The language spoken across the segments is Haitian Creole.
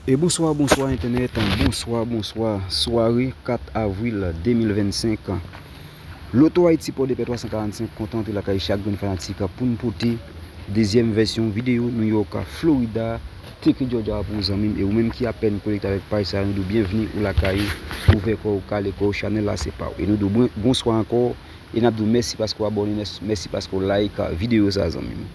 E bonswa bonswa entènèt bonswa bonswa sware 4 avril 2025 Loto Ayiti Pòdepè 345 kontan antre lakay chak grenn fanatik pou n pote dezyèm vèsyon videyo New York Florida Teke Georgia a pou ou zanmi m e ou menm ki apèn konekte avèk paj sa a nou di w byenvni ou lakay ou ouvè kò w kale kò w chanèl la se pa w e nou di w bonswa ankò e n ap di w mèsi paske w abòne mèsi paske w like videyo sa a zanmi m.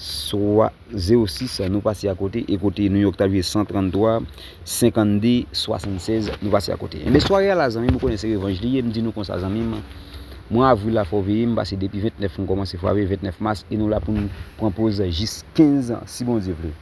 swa 06, nou pase akote, e kote New York t ap jwe 133, 52, 76, nou pase akote. Enben, sware a la zanmi m, ou konnen se revanj li ye, m di nou konsa zanmi m, mwa avril la fò w veye m, pase depi 29 m kòmanse frape, 29 mas, e nou la pou n pran poz jis 15 si Bondye vle.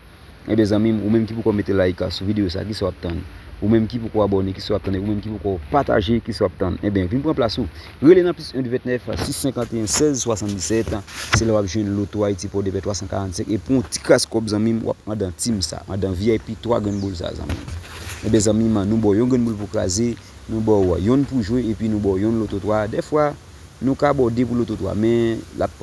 Ebyen zanmim ou menm ki poko mete like a sou video sa kisa wap tann ou menm ki poko abone kisa wap tann ou menm ki poko pataje kisa wap tann ebyen vin pran plas ou rele nan plis 1 29 651 16 77 se la wap jwenn loto Haïti pòdepè 345 e pou yon ti kras kòb zanmim wap andan team sa andan vip 3 grenn boul sa zanmim ebyen zanmim nou baw yon grenn boul pou kraze nou baw yonn pou jwe epi nou baw yonn loto 3 dèfwa nou ka baw 2 pou loto 3 men lap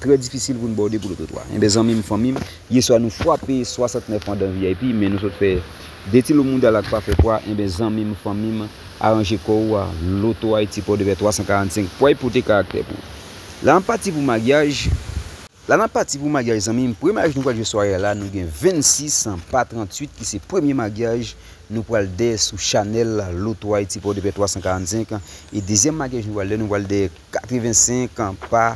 Trè difisil pou n bòde pou lototwa. Enben zanmi m, fanmi m, yeswa nou fwape 69 an dan vip, men nou sot fè Detilo moudal ak pa fè pwa, enben zanmi m, fanmi m, aranje kò ou a, Loto Ayiti Pòdepè 345 pway pote karaktè pou ou. La n ap pati pou maryaj. La n ap pati pou maryaj zanmi m, premye maryaj nou pral jwe sware a la, nou gen 26 an pa 38 ki se premye maryaj nou pral dè sou chanèl Loto Ayiti Pòdepè 345 e dezyèm maryaj nou pral dè nou pral dè 85 an pa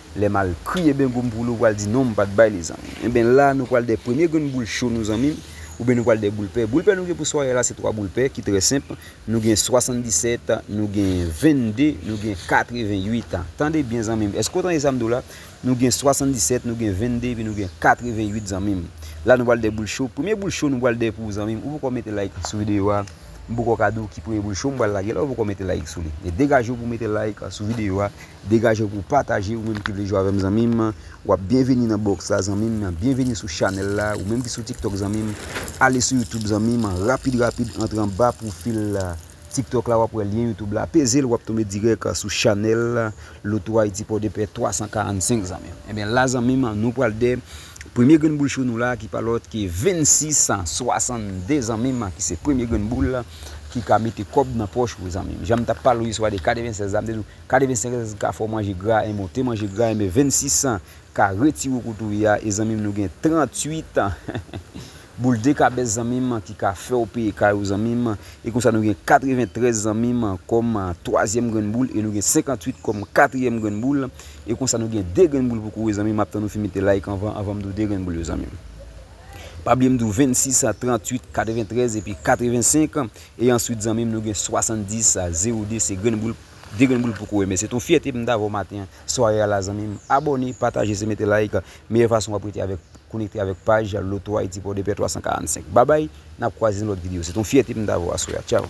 Lè mal kri eben gom pou lou pral di non m pat bay li zanmi m eben la nou pral dè premye grenn boul cho nou zanmi m oubyen nou pral dè boul pè boul pè nou gen pou sware a la se 3 boul pè ki trè senp nou gen 77 nou gen 22 nou gen 88 tande byen zanmi m eske w tande sa m di w la nou gen 77 nou gen 22 epi nou gen 88 zanmi m la nou pral dè boul cho premye boul cho nou pral dè pou w zanmi m ou poko mete like sou videyo a m poko ka di w ki premye boul cho m pral lage la ou poko mete like sou li degaje w pou w mete like sou videyo a. Degajew pou w pataje ou menm ki vle jwe avèm zanmim wap byenveni nan box la zanmim byenveni sou chanèl la ou menm ki sou tiktok zanmim ale sou youtube zanmim rapid rapid antre anba pwofil tiktok la wap wè lyen youtube la pezel wap tonbe dirèk sou chanèl loto ayiti pòdepè 345 zanmim ebyen la zanmim nou pral de premye grenn boul cho nou la ki pa lòt ke 26 62 zanmim ki se premye grenn boul ki ka mete kòb nan pòch ou zanmim janm tap pale ou yeswa de 96 la mte diw. 85 ans ka fè w manje gra enben w te manje gra enben 26 ans ka retire w kote w ye a e zanmi m nou gen 38 ans boul dekabès zanmi m ki ka fè w peye kay ou zanmi m e konsa nou gen 93 zanmi m kòm twazyèm grenn boul e nou gen 58 kòm katriyèm grenn boul e konsa nou gen 2 grenn boul pou kore zanmi m map tann ou fin mete like anvan anvan m di w 2 grenn boul yo zanmi m pa bliye m di w 26 ans 38 93 epi 85 e answit zanmi m nou gen 70 02 se grenn boul. Degrenn boul pou kouwè men se ton fyète pou m ta avè w maten an sware a la zanmi m abòne pataje se mete like meyè fason wap rete avèk konekte avèk paj Loto Haïti Pòdepè 345 babay nap kwaze nan lòt video se ton fyète pou m ta avè w aswè a tchaw.